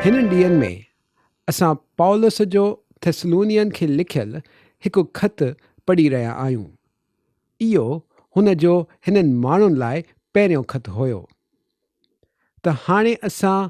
هنن ڏينهن ۾ اسان پولس جو ٿيسلونين کي لکيل هڪ خط پڙهي رهيا آهيون. اهو هن جو هنن ماڻهن لاء پهريون خط هيو. ته هاڻي اسان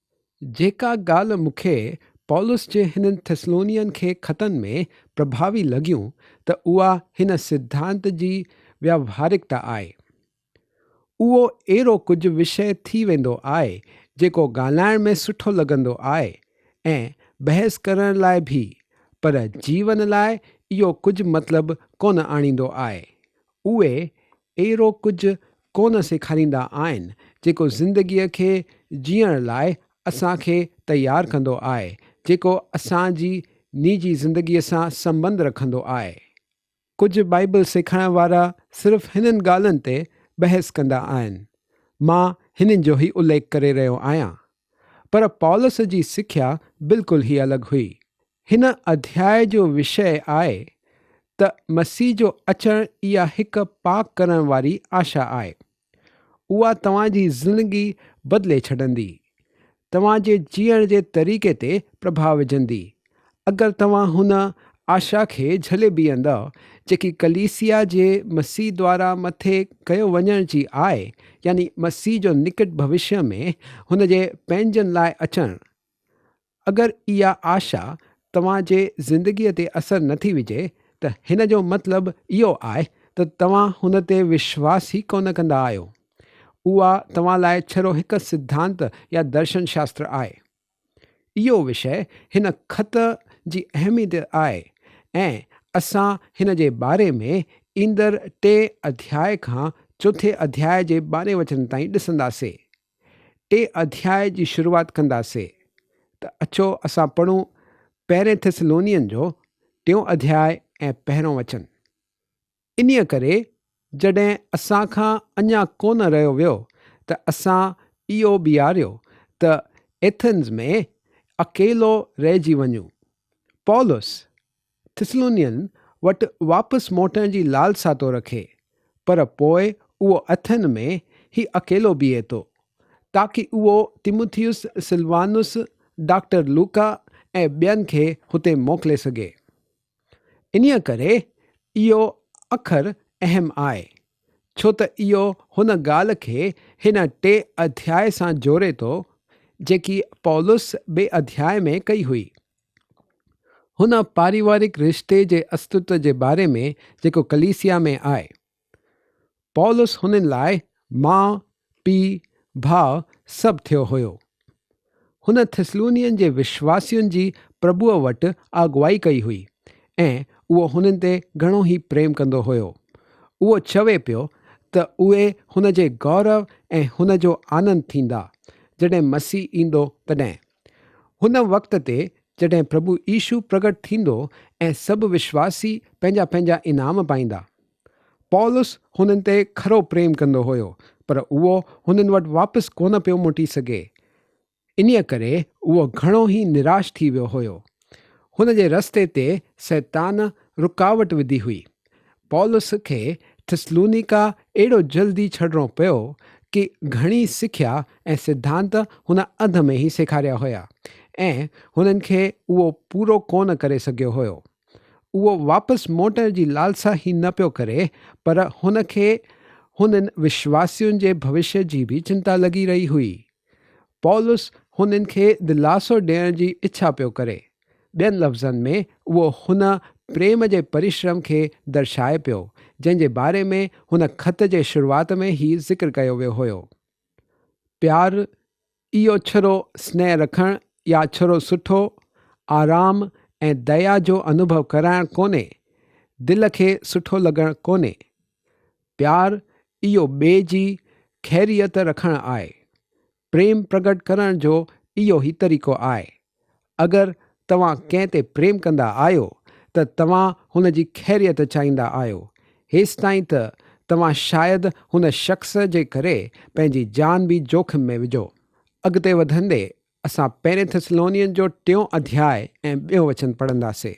جيڪا ڳالهه مون کي پولس جي هنن ٿسلونين کي خطن ۾ پرڀاوي لڳيون ته اها هن سڌانت جي ويوهارڪتا آهي. اهو اهڙو ڪجهه وشيه ٿي ويندو آهي جيڪو ڳالهائڻ ۾ سٺو لڳندو آهي ۽ بحث ڪرڻ لاء ڀي پر جيون لاء اهو ڪجهه مطلب ڪونه آڻيندو آهي. اهي اهڙو ڪجهه ڪونه سيکاريندا آهن جيڪو زندگيء کي جيئڻ لاء اسان کي تيار ڪندو آهي، جيڪو اسان جي نيجي زندگيء سان سنٻنڌ رکندو آهي. ڪجهه بائيبل سيکارڻ وارا صرف هنن ڳالهن تي بحث ڪندا آهن. مان هنن جو هي اليک ڪري رهيو آهيان. پر پولس جي سکيا بلڪل هي الڳ هئي، هن اڌياء جو وشيه آهي ته مسيح جو اچڻ اها هڪ پاڪ ڪرڻ واري آشا آهي. اها توهان جي زندگي بدلي ڇڏندي. توهان جي جيئڻ جي طريقي تي پرڀاء وجهندي. اگر توهان هن آشا کي جهلي بيهندؤ جيڪي ڪليسيا جي مسيح دوارا مٿي ڪيو وڃڻ جي آهي يعني مسيح جو نڪٽ ڀوشيه ۾ هن جي پنهنجن لاء اچڻ اگر اها آشا توهان جي زندگيء تي اثر نه ٿي وجهي ته هن جو مطلب اهو آهي ته توهان هن تي وشواس ئي ڪونه ڪندا آهيو. اها توهان لاء ڇرو هڪ سڌانت يا درشن شاستر آهي. اهو وشي هن خط جي اهميت آهي ۽ اسان هن جي باري ۾ ايندڙ ٽئين اڌياء کان چوٿين اڌياء جي ٻارهين وچن تائين ڏسنداسين. ٽي اڌياء جي شروعات ڪنداسين ته اچو اسان پڙهون پهرين ٿيسلونين جو ٽيون اڌياء ۽ پهريون وچن. انهيء ڪري جڏهن اسان کان اڃا ڪونه رهيو ويو ته اسان اهو بيهاريو ته ايٿنز ۾ اڪيلو رهجي وڃون. پولس، ٿسلونين وٽ واپس موٽڻ جي لالسا ٿو رکي، پر پوء اهو اٿن ۾ هي اڪيلو بيهي ٿو، تاڪي اهو تيموٿيوس، سلوانوس، ڊاڪٽر لوڪا ۽ ٻين کي هتي موڪلي سگهي. انهيء ڪري اهو اکر اهم آهي، ڇو ته اهو هن ڳالهه کي هن ٽئين اڌيائي سان جوڙي ٿو، جيڪي پولس ٻئي اڌيائي ۾ ڪئي هئي. هن پاريوارڪ رشتي جي استتو جي باري ۾ جيڪو ڪليسيا ۾ آهي. پولس هنن لاء ماء، پيء، ڀاء سڀ ٿيو هيو. هن ٿسلونين جي وشواسين جي پرڀوء وٽ آگوائي ڪئي هئي ۽ اهو هنن تي گهڻو ئي پريم ڪندو هيو. اهو چوي پيو ته اهي هن جي گورو ۽ هن جو آنند ٿيندا، جڏهن مسيح ايندو تڏهن. هن وقت تي جڏهن پرڀو عيسو پرگٽ ٿيندو ۽ سڀ وشواسي پنهنجا پنهنجا انعام پائيندا. پولس هنن تي کرو پريم ڪندو هيو پر اهو هنن وٽ واپس ڪونه پيو موٽي سگهي. انهيء ڪري اهو گهڻو ئي نراش ٿي ويو هيو. هن جي رستي تي سيطان رڪاوٽ وڌي هئي. پولس کي ٿسلونيڪا ايڏو جلدي ڇڏڻو پيو ڪي گهڻي سکيا ۽ سڌانت هن اڌ ۾ ئي سيکاريا هيا ۽ هنن کي اهو پورو ڪونه ڪري سگهيو هيو. اهو واپس موٽڻ جي لالسا ئي نه پيو ڪري پر هن کي هنن وشواسين جي ڀوشيه جي به چنتا لڳي رهي هئي. پولس هنن کي دلاسو ڏيڻ جي اڇا پيو ڪري. ٻين لفظن ۾ اهو هن پريم جي پريشرم کي درشائي پيو، جنهن جي باري ۾ هن خط جي شروعات ۾ هي ذڪر ڪيو ويو هيو، پيار، اهو ڇرو سنيهه رکڻ يا ڇرو سٺو، آرام ۽ ديا جو انوڀو ڪرائڻ ڪونهي، دل کي سٺو لڳڻ ڪونهي. پيار، اهو ٻئي جي خيريت رکڻ آهي. پريم پرگٽ ڪرڻ جو اهو ئي طريقو آهي. اگر توهان ڪنهن تي پريم ڪندا آهيو ته توهان هن جي خيريت چاهيندا آهيو. هيستائين ته توهان شايد هن شخص جي ڪري پنهنجي جان به جوکم ۾ وجهو. اڳتي وڌندي اسان پهرين ٿسلونين جو ٽيون اڌياء ۽ ٻيو وچن پڙهنداسين.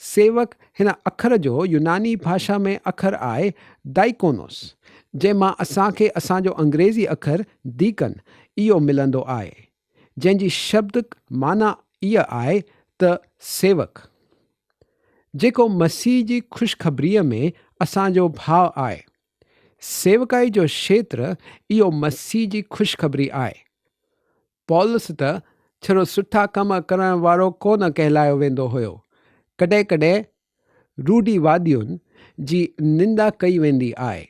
سيوڪ، هن اکر جو يوناني ڀاشا ۾ اکر آهي Diakonos، جنهن مان اسان کي اسان جو انگريزي اکر Deacon اهو ملندو آهي، جنهن جي شبدڪ معنيٰ اها آهي ته سيوڪ، جيڪو مسيح جي خوشخبريء ۾ اسان جو ڀاء آهي. سيوڪائي جو کيتر اهو مسيح جي خوشخبري آهي. پولس ته ڇڙو سٺا ڪم ڪرڻ وارو ڪو نه ڪهلايو ويندو هيو. ڪڏهن ڪڏهن روڊي وادين جي نندا ڪئي ويندي آهي،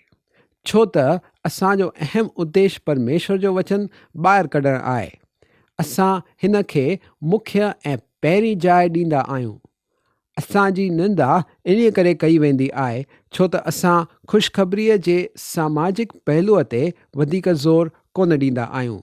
ڇو ته اسان جو اهم اديش پرميشور جو وچن ٻاهر ڪڍڻ آهي. اسان هن کي مکيه ۽ پهرين جاء ڏيندا آهيون. اسان جي نندا انهيء ڪري ڪئي ويندي آهي، ڇو ته اسان خوشخبريء جي ساماجڪ پهلوء تي وڌيڪ زور ڪونه ڏيندا آهيون.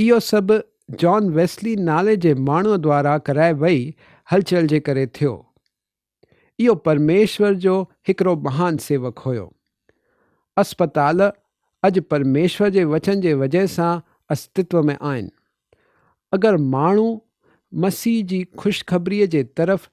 اهو سڀ جان ويسلي نالي جي ماڻهوء دوارا ڪرائي وئي هلچل جي ڪري ٿيو. اهو پرميشور جو هڪڙو مهان سيوڪ هيو. اسپتال اڄ پرميشور جي وچن جي وجهه سان استتو ۾ آهن. اگر ماڻهو مسيح جي خوشخبريء جي طرف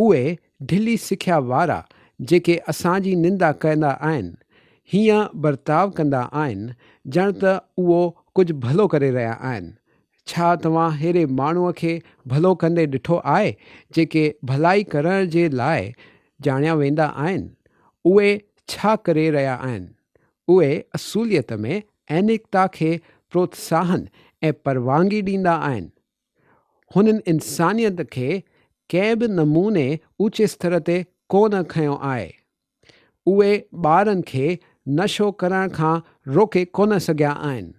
اهي ڍلي سکيا وارا جيڪي اسان جي نندا ڪندا آهن، هيئن برتاء ڪندا آهن ڄڻ ته اهو ڪجهه ڀلو ڪري رهيا آهن. ڇا توهان ههڙي ماڻهوء کي ڀلو ڪندي ڏٺو آهي؟ جيڪي ڀلائي ڪرڻ جي لاء ڄاڻيا ويندا آهن، اهي ڇا ڪري رهيا آهن؟ اهي اصوليت ۾ اينڪتا کي پروتساهن ۽ پروانگي ڏيندا آهن. هنن انسانيت کي ڪنهن به نموني اوچي ستر تي ڪو نه کنيو آهي. اهي ٻارن کي نشو ڪرڻ کان روڪي ڪو نه سگهيا آهن.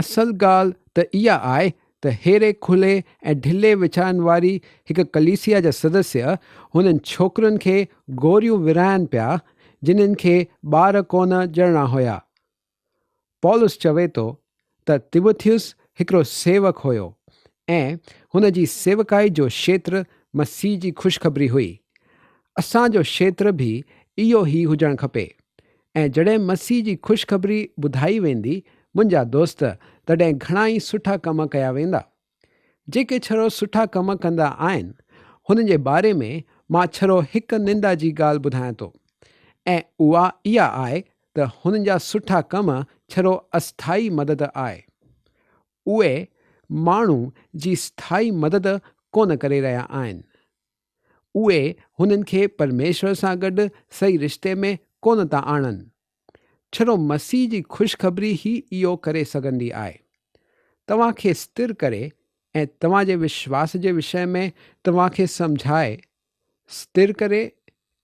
اصل ڳالهه ته اها آهي ته ههڙي کلي ۽ ڍلي ويچارن واري هڪ ڪليسيا جا سدسيه هنن ڇوڪرين کي گوريون ورهائن پيا جنهن کي ٻار ڪو نه ڄڻڻا هيا پولس چوي ٿو ته تيموٿيوس هڪڙو سيوڪ هيو ۽ هن جي سيوڪائي جو شيتر مسيح جي خوشخبري هئي. اسان جو شيتر به اهو ئي هجڻ کپي ۽ جڏهن مسيح جي خوشخبري ٻڌائي ويندي منهنجا دوست تڏهن گهڻائي سٺا ڪم ڪيا ويندا. جيڪي ڇرو سٺا ڪم ڪندا آهن هنن جي باري ۾ مان ڇرو هڪ نندا جي ڳالهه ٻڌايان ٿو ۽ اها اها آهي ته هنن جا سٺا ڪم ڇرو اسٿائي مدد آهي اهي ماڻهو جي اسٿائي مدد ڪونه ڪري رهيا آهن اهي هنن کي پرميشور سان گڏ صحيح رشتي ۾ ڪونه ٿا آڻن. ڇڙو مسيح جي خوشخبري ئي اهو ڪري سگهندي آهي. توهان کي ستر ڪري ۽ توهان جي وشواس جي وشي ۾ توهان کي سمجهائي ستر ڪري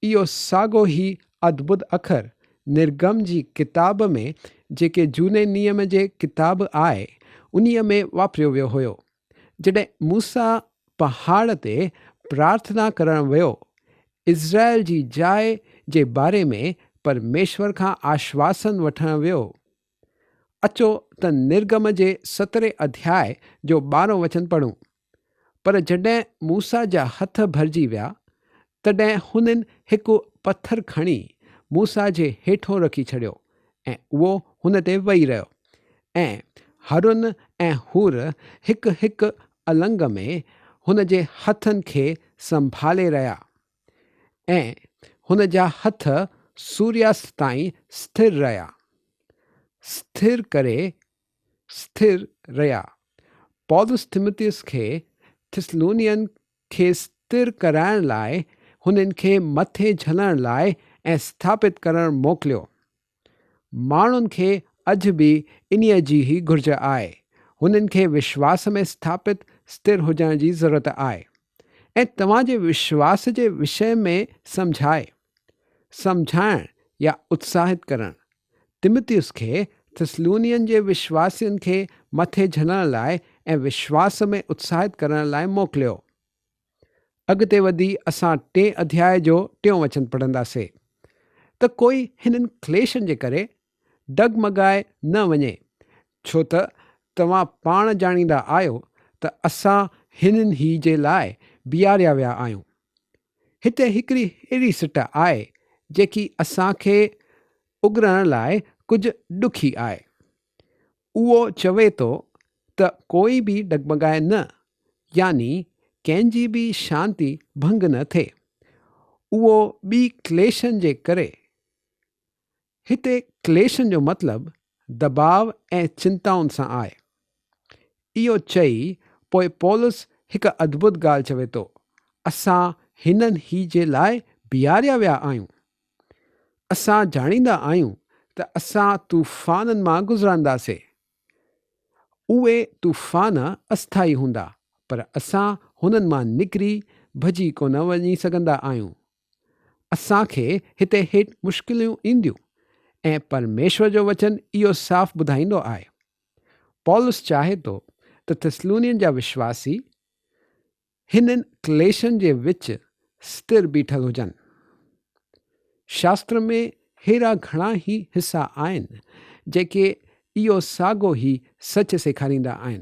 اهو ساڳو ئي ادڀت اکر نرگم جي ڪتاب ۾ جيڪي جهوني نيم جي ڪتاب آهي انهيء ۾ واپريو ويو هيو. جڏهن موسيٰ پهاڙ تي پرارٿنا ڪرڻ ويو، اسرائيل جي جاء جي باري ۾ پرميشور کان آشواسن وٺڻ ويو، اچو ته نرگم جي سترهين اڌياء جو ٻارهون وچن پڙهون. پر جڏهن موسيٰ جا هٿ ڀرجي ويا، تڏهن هنن هڪ پٿر کڻي موسيٰ جي هيٺون رکي ڇڏيو، ۽ اهو هن تي ويهي رهيو. ۽ هارون ۽ حور هڪ هڪ النگ ۾ هن جي هٿن کي سنڀالي رهيا، ۽ هن جا هٿ سورياست تائين سٿر رهيا، سٿر ڪري سٿر رهيا. پولس تيموٿيوس کي ٿسلونين کي ستر ڪرائڻ لاء هنن کي مٿي جهلڻ لاء ۽ اسٿاپت ڪرڻ موڪليو. ماڻهن کي اڄ به انهيء جي ئي گهرج آهي. هنن کي وشواس ۾ اسٿاپت، ستر، هجڻ جي ضرورت آهي. ۽ توهان جي وشواس جي وشيه ۾ سمجهائي، سمجهائڻ يا اتساهت ڪرڻ. تمتيوس کي ٿسلونين جي وشواسين کي مٿي جهلڻ لاء ۽ وشواس ۾ اتساهت ڪرڻ لاء موڪليو. اڳتي وڌي اسان ٽئين اڌيائي جو ٽيون وچن پڙهنداسين ته ڪوئي هنن ڪليشن جي ڪري ڊگمگائي نه وڃي، ڇو ته توهان پاڻ ڄاڻيندا آهيو ته اسان هنن هي جي لاء بيهاريا ويا آهيون. هتي هڪڙي اهڙي سٽ آهي، جيڪي اسان کي اگرڻ لاء ڪجهه ڏکي آهي. اهو چوي ٿو ته ڪوئي به ڊگمگائي نه، يعني ڪنهن جي به شانتي ڀنگ نه ٿئي. اهو ٻي ڪليشن جي ڪري هتي ڪليشن جو مطلب دٻاء ۽ چنتائن سان آهي. اهو چئي پوء پولس هڪ ادڀت ڳالهه چوي ٿو، اسان هنن هي جي لاء بيهاريا ويا آهيون. اسان ڄاڻيندا آهيون ته اسان طوفانن مان گذرنداسي. اهي طوفان اسٿائي هوندا پر اسان هنن مان نڪري ڀڄي ڪونه وڃي سگهندا آهيون اسان کي هتي هيٺ مشڪليون اينديون ۽ پرميشور جو وچن اهو صاف ٻڌائيندو آهي. پولس چاهي ٿو ته ٿسلونين جا وشواسي هنن ڪليشن جي وچ ستر بيٺل هجن. شاستر ۾ ههڙا گهڻا ئي حصا آهن جيڪي اهو ساڳو ئي سچ سيکاريندا آهن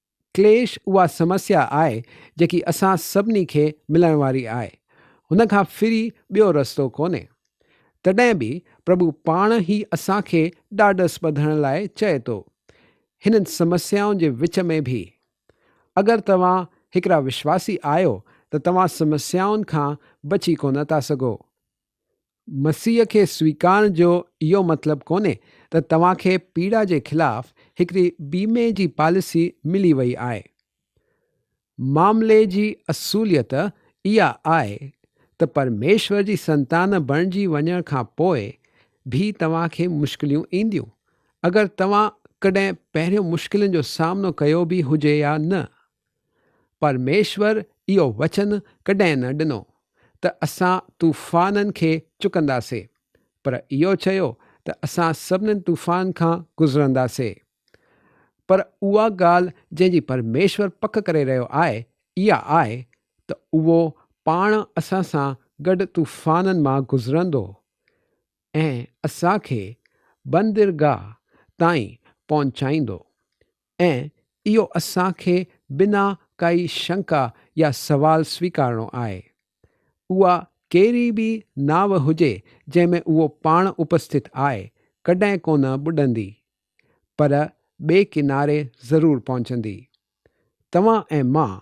ڪليش اها سمسيا آهي جيڪي اسان سڀني کي ملڻ واري آهي. هن کان ڦري ٻيو رستو ڪونهي. تڏهن به پرڀو پاڻ هي اسان کي ڏاڍس ٻڌڻ لاء چئي ٿو. هنن سمسيائن جي وچ ۾ به. اگر توهان هڪڙا وشواسي آهيو ته توهان سمسيائن کان بچي ڪونه ٿا سگهو. مسيح کي سويڪارڻ جو اهو مطلب ڪونهي ته توهان کي پيڙا جي خلاف هڪڙي بيمي جي پاليسي ملي وئي آهي. معاملي جي اصوليت اها آهي ته پرميشور جي سنتان بڻجي وڃڻ کان پوء به توهان کي مشڪليون اينديون، اگر توهان ڪڏهن پهريون مشڪلين جو سامنو ڪيو به هجي يا نه. پرميشور اهو وچن ڪڏهن نه ڏنو ته اسان طوفانن کي چڪنداسي پر اهو چيو ته اسان سڀني طوفانن کان گذرنداسي. پر اها ڳالهه جنهن جي پرميشور پڪ ڪري رهيو آهي اها آهي ته اهو پاڻ اسان سان گڏ طوفانن مان گذرندو ۽ اسان کي بندرگاهه تائين پهچائيندو. ۽ اهو اسان کي بنا ڪائي شنڪا يا سوال سويڪارڻو آهي. اها ڪهڙي به ناوه هجي جنهن ۾ اهو پاڻ اپسٿت آهي، ڪڏهن ڪونه ٻڏندي، پر ٻئي ڪناري ضرور پهچندي. توهان ۽ مان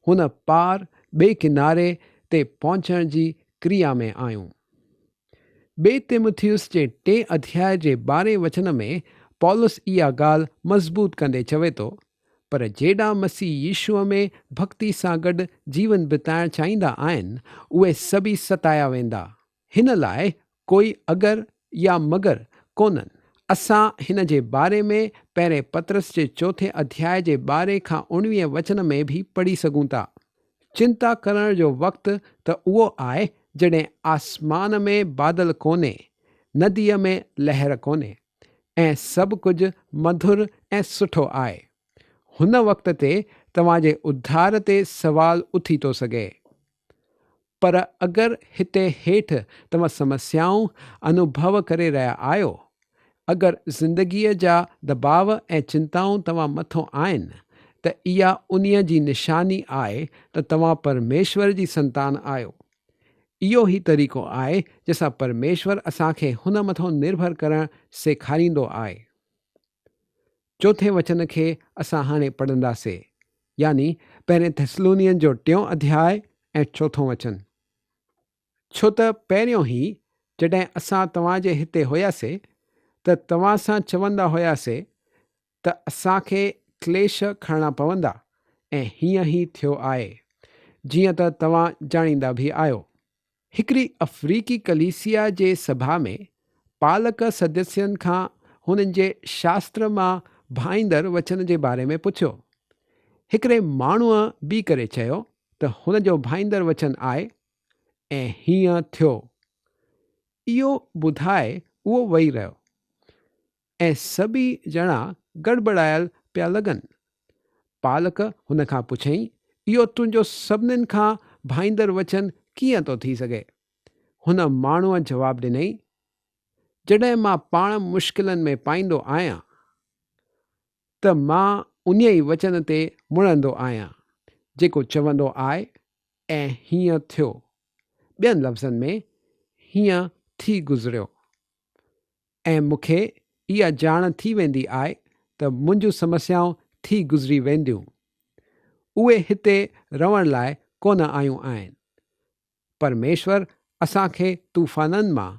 هن پار ٻئي ڪناري تي پهچڻ جي ڪريا ۾ آهيون. ٻئي تيموٿيوس جي ٽئين اڌياء جي ٻارهين وچن ۾ پولس اها ڳالهه مضبوط ڪندي چوي ٿو، پر جيڏا مسيح يسوع ۾ ڀڳتي سان گڏ جيون بتائڻ چاهيندا آهن، اهي سڀئي ستايا ويندا. هن لاء ڪوئي اگر يا مگر ڪونهن. اسان هن جي باري ۾ پهرين پطرس جي چوٿين اڌياء جي ٻارهين کان اوڻويهين وچن ۾ به پڙهي سگهون ٿا. چنتا ڪرڻ جو وقت ته اهو آهي جڏهن آسمان ۾ بادل ڪونهي، نديء ۾ لهر ڪونهي ۽ سڀ ڪجهه مڌر ۽ سٺو آهي. هن وقت تي توهان جي اڌار تي سوال اٿي ٿو سگهي. پر اگر هتي هيٺ توهان سمسيائون انوڀو ڪري رهيا آهيو اگر زندگيء جا دٻاء ۽ چنتائون توهان مٿان آهن ته اها انهيء جي نشاني آهي ته توهان پرميشور جي سنتان آهيو. اهو ئي طريقو آهي جنهن سان پرميشور اسان کي هن مٿان نرڀر ڪرڻ سيکاريندو آهي. چوٿين وچن کي اسان هاڻي پڙهنداسين، يعني پهرين ٿيسلونين جو ٽيون اڌياء ۽ چوٿون وچن. ڇو ته پهريون هي جڏهن اسان توهان جي هتي هياسي ته توهان سان چوندا هياسي ته اسان کي ڪليش کڻڻا پوندا ۽ هيئن هي ٿيو آهي جيئن ته توهان ڄاڻيندا به آهيو. هڪڙي افريقي ڪليسيا جي سڀا ۾ پالڪ سدسين کان هنن جي شاستر مان ڀائيندڙ وچن جي باري ۾ پڇيو. هڪڙي ماڻهوء بيهه ڪري چيو ته هن جو ڀائيندڙ وچن آء ۽ هيئن ٿيو. اهو ٻڌائي اهو ويهي رهيو ۽ سڀئي ڄڻا گڙٻڙايل پيا لڳن. پالڪ هن کان پڇيائين، اهو تنهنجو سڀنين کان ڀائيندڙ وچن ڪيئن ٿو ٿي سگهي؟ هن ماڻهوء جواب ڏنائين، جڏهن مان پاڻ مشڪلن ۾ پائيندو آهيان، ته مان انهيء ئي وچن تي مڙندو آهيان، جيڪو چوندو آء ۽ هيئن ٿيو. ٻين لفظن ۾، هيئن ٿي گذريو. ۽ مون کي اها ڄاڻ ٿي ويندي آء ته منهنجون سمسيائون ٿي گذري وينديون. اهي هتي رهڻ لاء ڪونه آيون آهن. پرميشور اسان کي طوفانن مان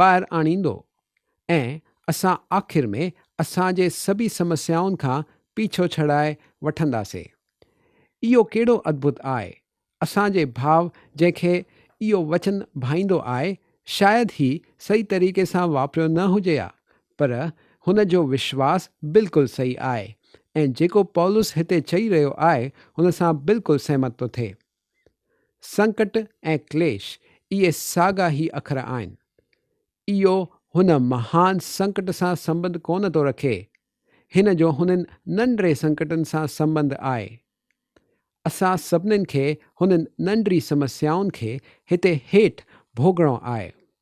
ٻاهر آڻيندو ۽ اسان آخر ۾ اسان جي سڀي سمسيائن کان پيڇو ڇڙائي وٺنداسين. اهو ڪهڙو ادڀت آء! اسان جي ڀاء جنهن کي اهو وچن ڀائيندو آء شايد هي صحيح طريقي سان واپريو نه هجي ها پر هن جو وشواس بلڪل صحيح آء ۽ جيڪو پولس هتي چئي رهيو آء هن سان بلڪل سهمت ٿو ٿئي. سنڪٽ ۽ ڪليش اهي ساڳا ئي اکر آهن. اهو هن مهان سنڪٽ سان سنٻنڌ ڪونه ٿو رکي، هن جو هنن ننڍڙي سنڪٽن سان سنٻنڌ آهي. اسان سڀني کي هنن ننڍڙي سمسيائن کي هتي هيٺ ڀوڳڻو آهي.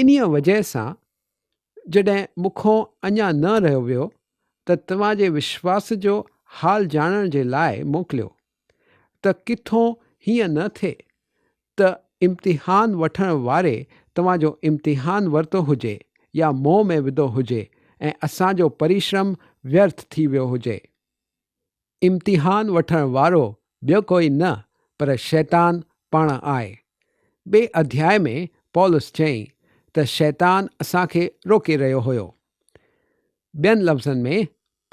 انهيء وجهه سان جڏهن مون کان اڃا نه رهيو ويو ته توهان جي وشواس جو حال ڄاڻڻ جي لاء موڪليو ته ڪٿون هيئن نه ٿئي ته امتحان وٺڻ واري توهان جو امتحان ورتو هجي يا منهن ۾ وڌو هجي ۽ اسان جو پريشرم ويرٿ ٿي ويو هجي. امتحان وٺڻ وارو ٻيو ڪوئي نه پر شيطان پاڻ آهي. ٻئي اڌياء ۾ پولس چيائين ته شيطان اسان کي روڪي رهيو هيو. ٻين لفظن ۾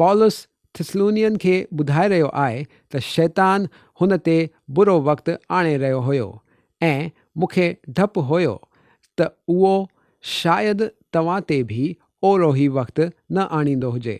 پولس ٿسلونين کي ٻڌائي رهيو آهي ته شيطان هن تي برو وقت آڻي رهيو هيو ۽ مون کي ڊپ هيو ته اهو شايد توهان تي به اوروهي وقت نه آڻيندو هجي.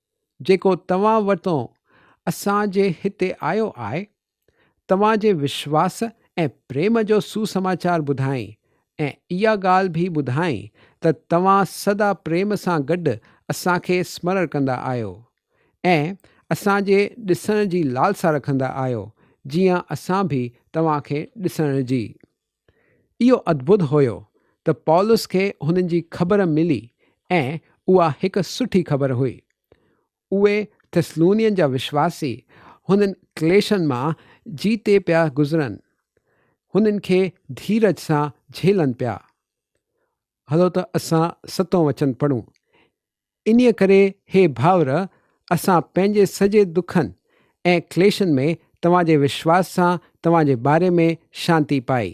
جيڪو توهان وٽان اسان جي هتي آيو آهي، توهان جي وشواس ۽ پريم جو سوسماچار ٻڌائين ۽ اها ڳالهه به ٻڌائين ته توهان سدا پريم سان گڏ اسان کي سمرڻ ڪندا آهيو ۽ اسان جي ڏسڻ جي لالسا رکندا آهيو جيئن اسان به توهان کي ڏسڻ جي اهو ادڀت هيو ته پولس کي هنن جي خبر ملي ۽ اها هڪ سٺي خبر هئي. اهي ٿسلونين جا وشواسي هنن ڪليشن مان جيتي پيا گذرن، هنن کي ڌيرج سان جهيلن پيا. هلو ته اسان ستون وچن پڙهون. انهيء ڪري هي ڀائر، اسان پنهنجي سڄي دکن ۽ ڪليشن ۾ توهان جي وشواس سان توهان جي باري ۾ شانتي پائي.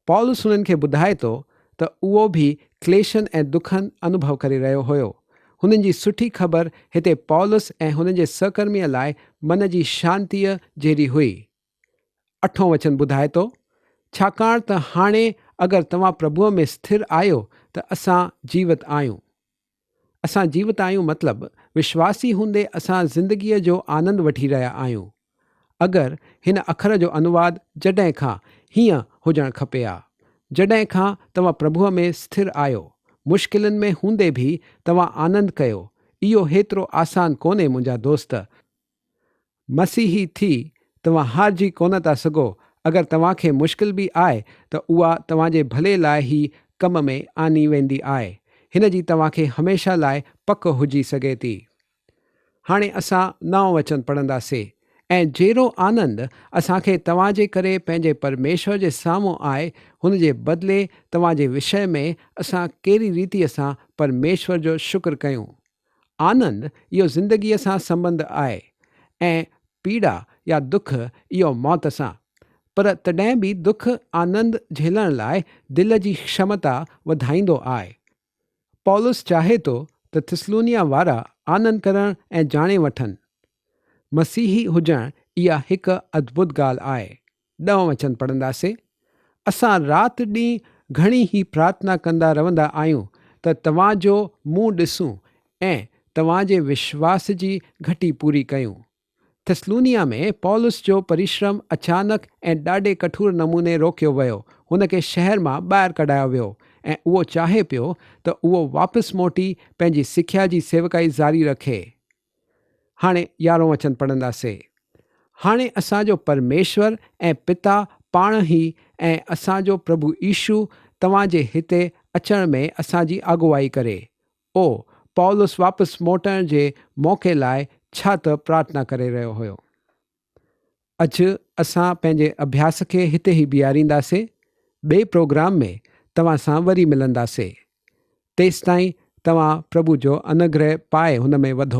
پولس هنن کي ٻڌائي ٿو ته اهو به ڪليشن ۽ دکن انوڀو ڪري رهيو هيو. هنن جي سٺي خبر هتي پولس ۽ هن جي سهڪرميء لاء من جي شانتيء جهڙي هئي. اٺون وچن ٻڌائي ٿو، ڇاڪاڻ ته هاڻي اگر توهان پرڀوء ۾ اسٿر آهيو ته اسان جيوت آهيون. اسان جيوت آهيون مطلب وشواسي هوندي اسان زندگيء جو آنند وٺي رهيا آهيون. اگر هن اکر جو انواد جڏهن کان هيئن هجڻ کپي ها. جڏهن کان توهان پرڀوء ۾ اسٿر آهيو، مشڪلن ۾ هوندي به توهان آنند ڪيو، اهو هيترو آسان ڪونهي منهنجا دوست، مسيحي ٿي توهان هارجي ڪونه ٿا سگهو، اگر توهان کي مشڪل به آئي ته اها توهان جي ڀلي لاء ئي ڪم ۾ آندي ويندي آهي، هن جي توهان کي هميشه لاء پڪ هجي سگهي ٿي. هاڻي اسان نئون وچن پڙهندا سي. ۽ جيرو آنند اسان کي توهان جي ڪري پنهنجي پرميشور جي سامهون آهي، هن جي بدلي توهان جي وشي ۾ اسان ڪهڙي ريتيء سان پرميشور جو شڪر ڪيون؟ آنند اهو زندگيء سان سنبنڌ آهي ۽ پيڙا يا دک اهو موت سان. پر تڏهن به دک آنند جهلڻ لاء دل جي شمتا وڌائيندو آهي. پولس چاهي ٿو ته ٿسلونيا وارا آنند ڪرڻ ۽ جاڻي وٺن. مسيحي هجڻ اها هڪ ادڀت ڳالهه آهي. ڏهون وچن پڙهنداسين. اسان رات ڏينهن گهڻي هي پرارٿنا ڪندا رهندا آهيون ته توهان جو منهن ڏسون ۽ توهان جي وشواس جي گهٽي پوري ڪيون. ٿسلونيا ۾ پولس جو پريشرم اچانڪ ۽ ڏاڍي ڪٺور نموني روڪيو ويو. هن کي شهر مان ٻاهر ڪڍايو ويو ۽ اهو چاهي پيو ته اهو واپس موٽي پنهنجي سکيا جي سيوڪائي جاري رکي. هاڻي يارهون وچن پڙهنداسين. هاڻي اسان جو پرميشور ۽ پتا پاڻ هي ۽ اسان جو پرڀو عيشو توهان جي هتي اچڻ ۾ اسان جي آگواهي ڪري. او، پائولس واپس موٽڻ جي موقعي لاء ڇا ته پرارٿنا ڪري رهيو هيو. اڄ اسان پنهنجي اڀياس کي هتي ئي بيهارينداسين. ٻئي پروگرام ۾ توهان سان وري ملنداسين. تيستائين توهان پرڀو جو انوگره پائي هن ۾ وڌو.